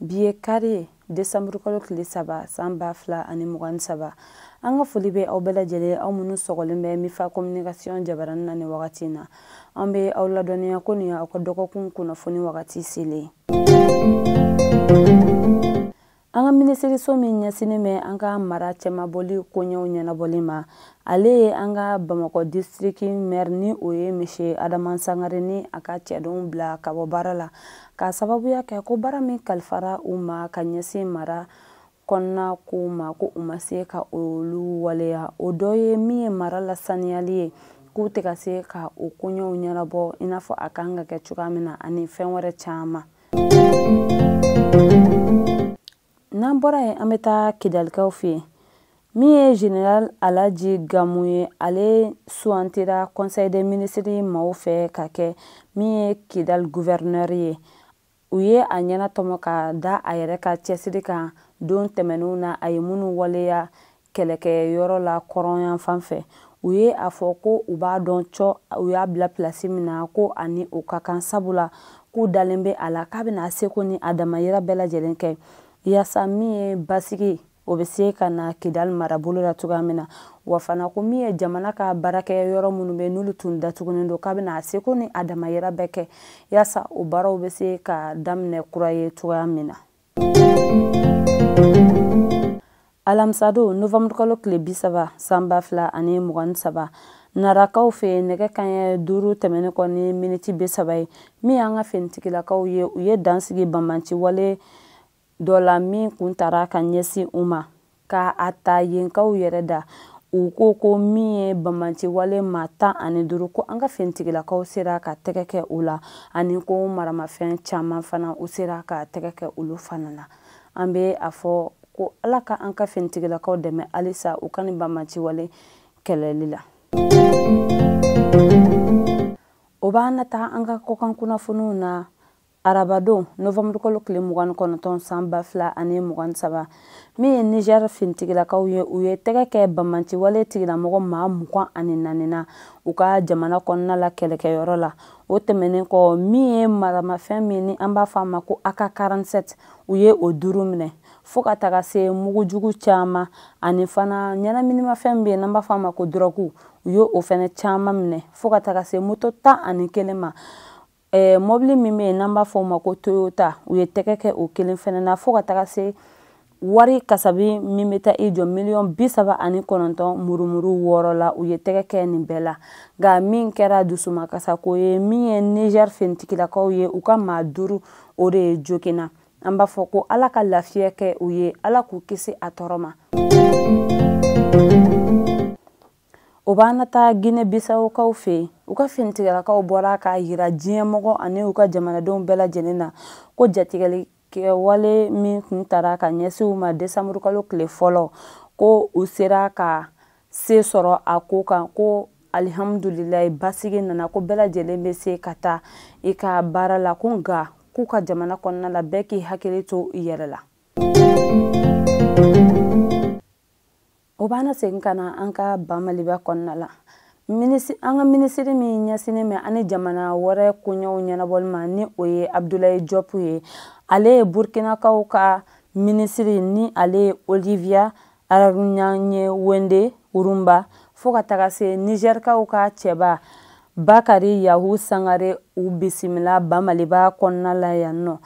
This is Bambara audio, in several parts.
bi ye kari desanburu kalo tile saba san ba fila ani mugan ni saba an ka foli bɛ aw bɛɛ lajɛlen aw minnu sɔgɔlen bɛ mifa communication jabaranin na ni wagati na an bɛ aw ladɔnniya ko nin aw ka dɔgɔkun kunnafoni wagati selen an ka minisiriso min ɲɛsinnen bɛ an ka mara cɛmabɔli koɲɛw ɲɛnabɔli ma ale ye an ka bamakɔ disitiriki mɛri ni o ye mise adama sangare ni a ka cɛdenw bila ka bɔ baara la k'a sababuya kɛ ko baara min kalifara u ma ka ɲɛsin mara kɔnɔna kow ma ko u ma se ka olu waleya o dɔ ye min ye mara lasaniyali ye k'u tɛ ka se ka o koɲɛw ɲɛnabɔ i n'a fɔ a kan ka kɛ cogoya min na ani fɛn wɛrɛ caman n'an bɔra yen an bɛ taa kidalikaw fɛ yen min ye general alaji gamu ye ale sugantira conseil des ministres maaw fɛ ka kɛ min ye kidal gouverneur ye u ye a ɲɛnatɔmɔ ka da a yɛrɛ ka cɛsiri kan don tɛmɛnenw na a ye minnu waleya kɛlɛkɛyɔrɔ la kɔrɔnyan fan fɛ u ye a fɔ ko u b'a dɔn cɔ u y'a bila pilasi min na ko ani o ka kan sabula k'u dalen bɛ a la k'a bɛna a seko ni a damayira bɛɛ lajɛlen kɛ yaasa min ye basigi o bɛ se ka na kidali marabolo la cogoya min na wa fana ko min ye jamana ka baarakɛyɔrɔ minnu bɛ n'olu tun datugunen don k'a bɛna a seko ni a damayira bɛɛ kɛ yaasa o baaraw bɛ se ka daminɛ kura ye cogoya min na alamisadon novanburukalo tile bi saba san ba fila ani mugan ni saba narakaw fɛ nɛgɛ kanɲɛ duuru tɛmɛnen kɔ ni miniti bi saba ye min y'an ka finitigilakaw ye u ye dansigi banbanci wale dɔ la min kun tara ka ɲɛsin u ma ka a ta yenkaw yɛrɛ da u ko ko min ye banbanci wale maa tan ani duuru ko an ka finitigilakaw sera ka tɛgɛ kɛ u la ani ko maramafɛn caman fana u sera ka tɛgɛ kɛ olu fana na an bɛ a fɔ ko ala ka an ka finitigilakaw dɛmɛ halisa u ka nin banbanci wale kɛlɛli la o b'an nataa an ka kɔkan kunnafoniw na arabadon novanburukalo tile mugan ni kɔnɔntɔn san ba fila ani mugan ni saba min ye niger finitigilakaw ye u ye tɛgɛ kɛ banbanci wale tigilamɔgɔ maa mugan ani naani na u ka jamana kɔnɔna la kɛlɛkɛyɔrɔ la o tɛmɛnen kɔ min ye maramafɛn min ni an b'a fɔ a ma ko AK 47 u ye o duuru minɛ fo ka taga se mugu jugu caaman ani fana ɲɛnaminimafɛn bɛ yen n'an b'a fɔ a ma ko dɔrɔgu u ye o fɛnɛ caaman minɛ fo ka taga se moto tan ani kelen ma eh, mɔbili min bɛ yen n'an b'a fɔ o ma ko toyota u ye tɛgɛ kɛ o kelen fana na fo ka taga se wari kasabi min bɛ taa i jɔ miliyɔn bi saba ani kɔnɔntɔn murumuru wɔɔrɔ la u ye tɛgɛ kɛ nin bɛɛ la nka min kɛra dusumakasako ye min ye niger finitigilakaw ye u ka maa duuru o de ye joginna an b'a fɔ ko ala ka lafiya kɛ u ye ala k'u kisi a tɔɔrɔ ma o b'an na taa gine bisawukaw fɛ yen u ka finitigilakaw bɔra k'a yira diɲɛmɔgɔ ani u ka jamanadenw bɛɛ lajɛlen na ko jatigɛli kɛwale min tun taara ka ɲɛsin u ma desanburu kalo tile fɔlɔ ko u sera ka se sɔrɔ a ko kan ko alihamudulilayi basigi nana ko bɛɛ lajɛlen bɛ se ka taa i ka baara la ko nka k'u ka jamana kɔnɔna la bɛɛ k'i hakili to i yɛrɛ la o b'an segin ka na an ka ba maliba kɔnɔna la an ka minisiri min ɲɛsinnen bɛ an ni jamana wɛrɛ koɲɛw ɲɛnabɔli ma ni o ye abudulayi jɔpu ye ale ye burkinakaw ka minisiri ni ale ye olivia aranyanye wende urumba fo ka taga se nizɛrikaw ka cɛba bakari yahu sangare u bisimila ba maliba kɔnɔna la yan nɔ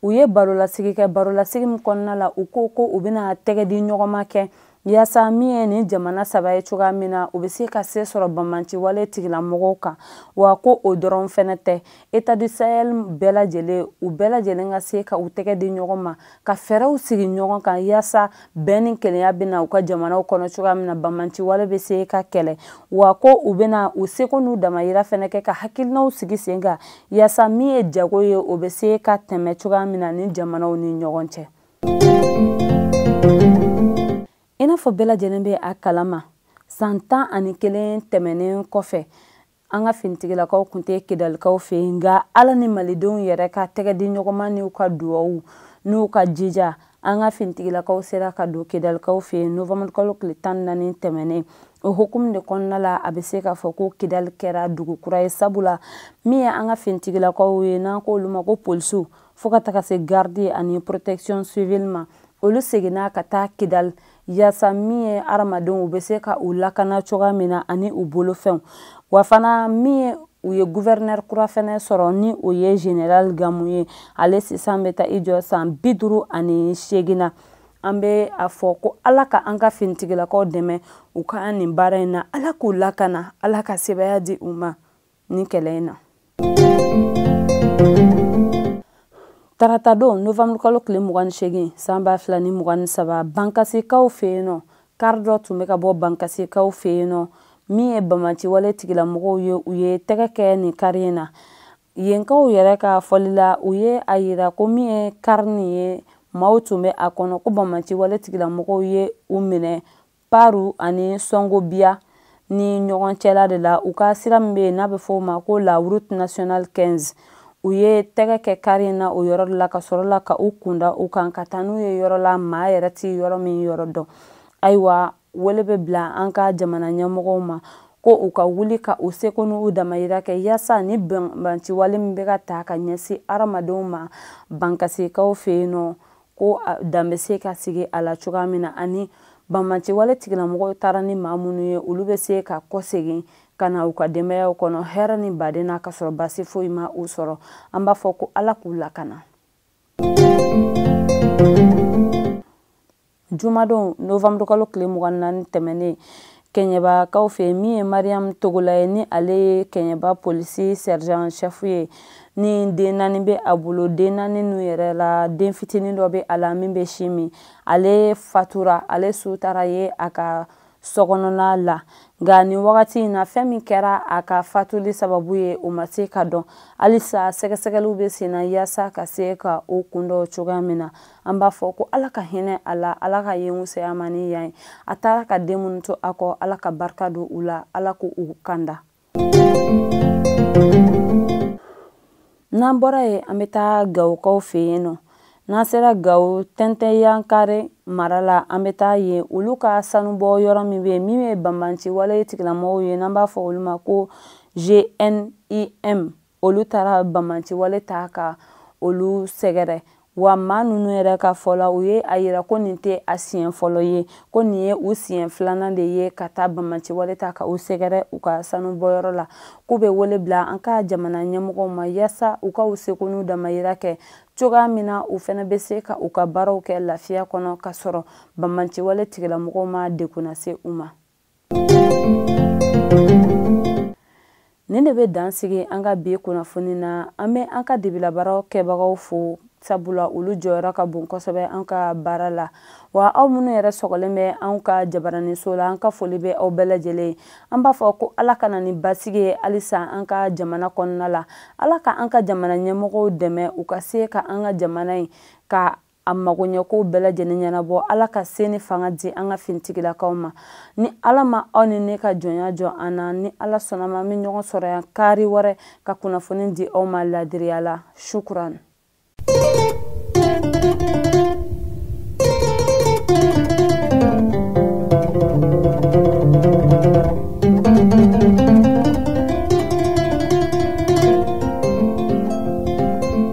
u ye barolasigi kɛ barolasigi min kɔnɔna la u ko u bɛna tɛgɛ di ɲɔgɔnma kɛ yaasa min ye nin jamana saba ye cogoya min na u bɛ se ka se sɔrɔ banbanciwale tigilamɔgɔw kan wa ko o dɔrɔn fɛnɛ tɛ états du sahel bɛɛ lajɛlen u bɛɛ lajɛlen ka se ka u tɛgɛ di ɲɔgɔn ma ka fɛɛrɛw sigi ɲɔgɔn kan yaasa bɛn ni kelenya bɛ na u ka jamanaw kɔnɔ cogoya min na banbanciwale bɛ se ka kɛlɛ wa ko u bɛna u seko n'u damayira fɛnɛ kɛ ka hakilinaw sigi sen kan yaasa min ye jago ye o bɛ se ka tɛmɛ cogoya min na nin jamanaw ni ɲɔgɔn cɛ i n'a fɔ bɛɛ lajɛlen bɛ a kalama san tan ani kelen tɛmɛnen kɔfɛ an ka finitigilakaw kun tɛ kidalikaw fɛ yen nka ala ni malidenw yɛrɛ ka tɛgɛ di ɲɔgɔnma n'u ka duwawu n'u ka jija an ka finitigilakaw sera ka don kidalikaw fɛ yen novembre kalo tile tan ni naani tɛmɛnen o hukumu de kɔnɔna la a bɛ se k'a fɔ ko kidali kɛra dugu kura ye sabula min ye an ka finitigilakaw ye n'an ko olu ma ko polisiw fo ka taga se garidi ani protection civile ma olu seginna ka taa kidali yaasa min ye hadamadenw u bɛ se ka u lakana cogoya min na ani u bolofɛnw wa fana min ye u ye guvɛrinɛri kura fɛnɛ sɔrɔ ni o ye general gamu ye ale sisan bɛ taa i jɔ san bi duuru ani seegin na an bɛ a fɔ ko ala ka an ka finitigilakaw dɛmɛ u ka nin baara in na ala k'u lakana ala ka sebaya di u ma nin kɛlɛ in na tarata don novamburu kalo tile mugan ni segin san ba fila ni mugan ni saba bankasikaw fɛ yen nɔ kari dɔ tun bɛ ka bɔ bankasikaw fɛ yen nɔ min ye banbanciwale tigilamɔgɔw ye u ye tɛgɛ kɛ nin kari in na yenkaw yɛrɛ ka fɔli la u ye a yira ko min ye kari nin ye maaw tun bɛ a kɔnɔ ko banbanciwale tigilamɔgɔw ye u minɛ paru ani sɔngobiya ni ɲɔgɔn cɛla de la u ka sira min bɛ yen n'a bɛ fɔ o ma ko la route nationale 15 u ye tɛgɛ kɛ kari in na o yɔrɔ la ka sɔrɔ la ka u kun da u kan ka taa n'u ye yɔrɔ la maa yɛrɛ tɛ yɔrɔ min yɔrɔ dɔn ayiwa wele bɛ bila an ka jamana ɲɛmɔgɔw ma ko u ka wuli ka u seko n'u damayira kɛ yaasa ni banbanciwale min bɛ ka ta ka ɲɛsin hadamadenw ma bankasikaw fɛ yen nɔ ko dan bɛ se ka sigi a la cogoya min na ani banbanciwale tigilamɔgɔw taara ni maa minnu ye olu bɛ se ka kɔsegin ka na u ka denbayaw kɔnɔ hɛrɛ ni baden na ka sɔrɔ basi foyi ma u sɔrɔ an b'a fɔ ko ala k'u lakana jumadon novamburu kalo tile mugan ni naani tɛmɛnen kɛɲɛbakaw fɛ min ye mariyamu togola ye ni ale ye kɛɲɛba polisi sergent chef ye ni den naani bɛ a bolo den naani ninnu yɛrɛ la den fitinin dɔ bɛ a la min bɛ sin min ale fatura ale su taara ye a ka sokɔnɔna la nka nin wagati in na fɛn min kɛra a ka fatuli sababu ye o ma se ka dɔn halisa sɛgɛsɛgɛliw bɛ sen na yaasa ka se ka o kun dɔn cogoya min na an b'a fɔ ko ala ka hinɛ a la ala ka yen wusaya a ma ni yan ye a taara ka den minnu to a kɔ ala ka barika don u la ala ka u kanda n'an bɔra yen an bɛ taa gawokaw fɛ yen nɔ n'an sera gawo tɛntɛnyankare mara la an bɛ taa yen olu ka sanubɔ yɔrɔ min bɛ yen min ye banbanciwale tigilamɔgɔw ye n'an b'a fɔ olu ma ko gnim olu taara banbanciwale ta ka olu sɛgɛrɛ wa maa ninnu yɛrɛ ka fɔ la u ye a yira ko nin tɛ a siɲɛ fɔlɔ ye ko nin ye u siɲɛ filanan de ye ka taa banbanciwale ta ka u sɛgɛrɛ u ka sanubɔyɔrɔ la k'u bɛ wele bila an ka jamana ɲɛmɔgɔw ma yaasa u ka u seko n'u damayira kɛ cogoya min na u fana bɛ se ka u ka baaraw kɛ lafiya kɔnɔ ka sɔrɔ banbanciwale tigilamɔgɔw ma degun lase u ma nin de bɛ dan sigi an ka bi kunnafoni na an bɛ an ka dibilabaara kɛbagaw fo sabula olu jɔyɔrɔ ka bon kosɛbɛ an ka baara la wa aw minnu yɛrɛ sɔgɔlen bɛ an ka jabaraninso la an ka foli bɛ aw bɛɛ lajɛlen ye an b'a fɔ ko ala ka na ni basigi ye halisa an ka jamana kɔnɔna la ala ka an ka jamana ɲɛmɔgɔw dɛmɛ u ka se ka an ka jamana in ka a magoɲɛkow bɛɛ lajɛlen ɲɛnabɔ ala ka se ni fanga di an ka finitigilakaw ma ni ala ma aw ni ne ka jɔnya jɔ an na ni ala sɔnna ma an bɛ ɲɔgɔn sɔrɔ yan kari wɛrɛ ka kunnafoni di aw ma ladiriya la shukuran